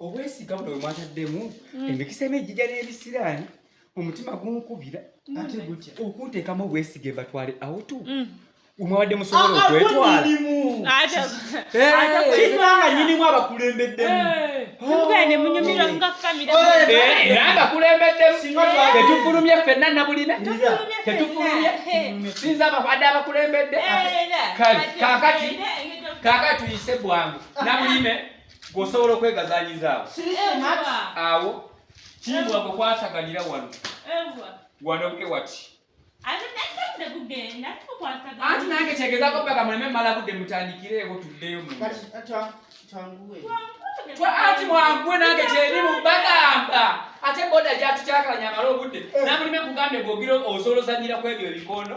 obwesiga buno bwemwataddemu mm. emikisa emu ejija n'ebisiraani omutima gunkubira mm. ate gutya okunteekamu obwesiga ebatwale awutu mm. mwabadde musobola ah, ah, okwetwalakibanga nyinimu abakulembeddemubaabakulembeddemutufulumye eh, fenna nabulina tetufulumye sinza abade abakulembedde eh, kale kakati kakati tuyise bwangu nabulime gwosobola okwegazanyizaawo awo kimbwa gwe kwataganira wano wano bwe wati anti nange kyegezako mpaka muleme mala budde mutandikireewo tuddeyo anti mwangwe nange kyeri mu bagamba ate boda gyatukyakala nyamala obudde eh. namulime kugambye gogire osobola ozanyira kwebyo ebikondo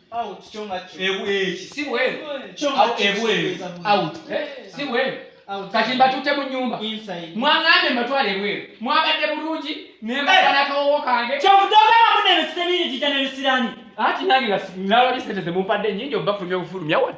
out kyo nga kyo ebu eki si bwe kyo nga kyo ebu ebu out eh si bwe kati mbatute mu nyumba mwangambe mbatwale ebweru mwabadde bulungi nembakanakawowo eh. kange kyovudogaba munene kisebiri jija nebisirani ati nange nga nalabisente zemumpadde nyingi obafulumya obufulumya wona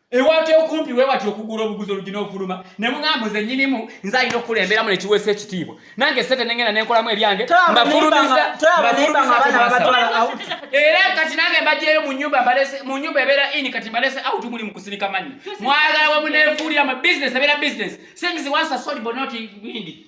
ewati okumpi wewati okugula obuguzi olugina ofuluma ne muŋambo ze nyinimu nze alina okukulemberamu nekiweesa ekitiibwa nange sente nengenda nenkolamu ebyange mbafulumiza era kati nange mbajeeyo mu nyumba ebeera ini kati mbalese out muli mukusinika manyi mwagala wamunefuulira mu business ebeera business things once are sold but not windi